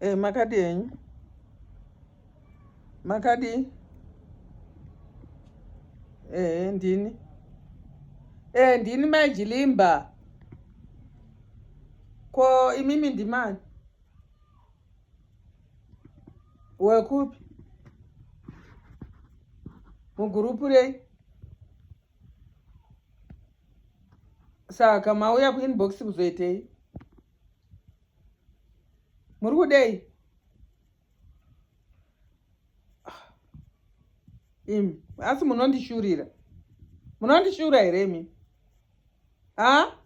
Eh, makadi enyu makadi ehe ndini ehe ndini mai jilimba ko imimi ndimani wekupi mugurupu rei saka mauya kuinbox kuzoitei muri kudei imi asi munondishurira munondishura here imi ha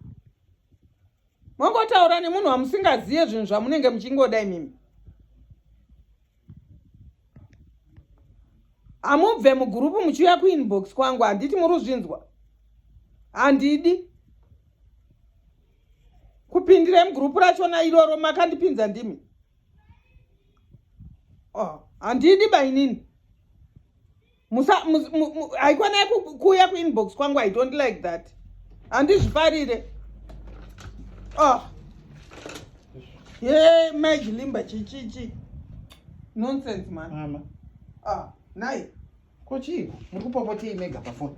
mongotaura nemunhu wamusingazive zvinhu zvamunenge muchingoda imimi amubve mugurupu muchiuya kuinbox kwangu handiti muri uzvinzwa handidi kupindira mugurupu rachona iroro makandipinza ndimi oh, handidi oh, bainini haikwanai kuuya kuinbox kwangu i don't like that handizvifarire oh. ye majilimba chichichi nonsense mama ah, nai ko chii muri kupopotei mega pafoni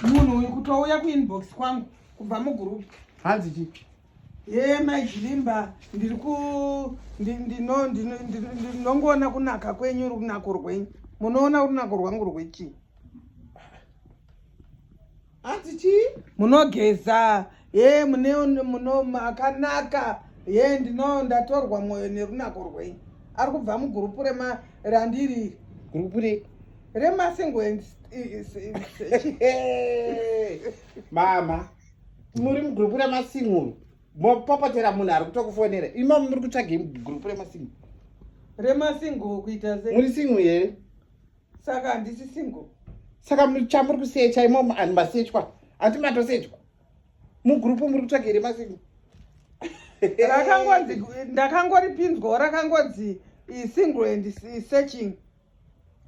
munhu uyu kutouya kuinbox kwangu kubva mugurupu hanzi chii Yee mai Chilimba ndiri ku ndinongoona kunaka kwenyu runako rwenyu munoona runako rwangu rwechii hanzi chii munogeza ye mune muno makanaka ye ndino ndatorwa mwoyo nerunako rwenyu ari kubva mugurupu rema randiri gurupu re remasingoens mama muri mugrupu remasimuru mopopotera munhu ari kutokufonera imomo muri kutsvagei mugrupu remasimuru remasingle kuita se muri single here saka handisi single saka chamuri kusecha imomo ani masechwa hati matosechwa mugrupu muri kutsvaga here masingle rakangonzi ndakangoripinzwawo rakangonzi single and searching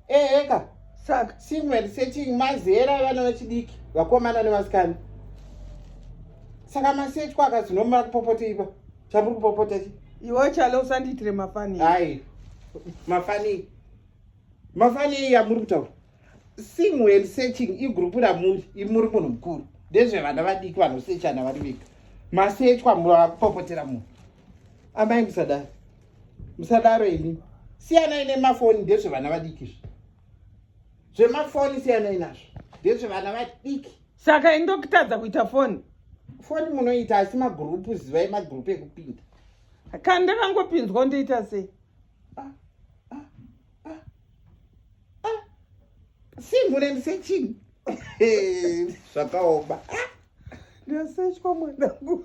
eheka saka single and searching mazera evana vechidiki vakomana nevasikana saka masetwa akazinomara kupopota ipa chamuri kupopota chi iwe chalo usandiitire mafani hai mafani mafani iyi yamuri kutaura single and searching igrupu ramuri iri muri munhu mukuru ndezvevana vadiki vanosechana vari vega masechwa mura vakupopotera munhu amai musadari musadaro ini siyanai nemafoni ndezvevana vadiki izvi zvemafoni siyanai nazvo ndezvevana vadiki saka ini ndokutadza kuita foni foni munoita asi magurupu zivai magurupu ekupinda kana ndakangopinzwa ndoita sei ah, ah, ah, simhune ndisechini zvakaoma ndasechwa mwanangu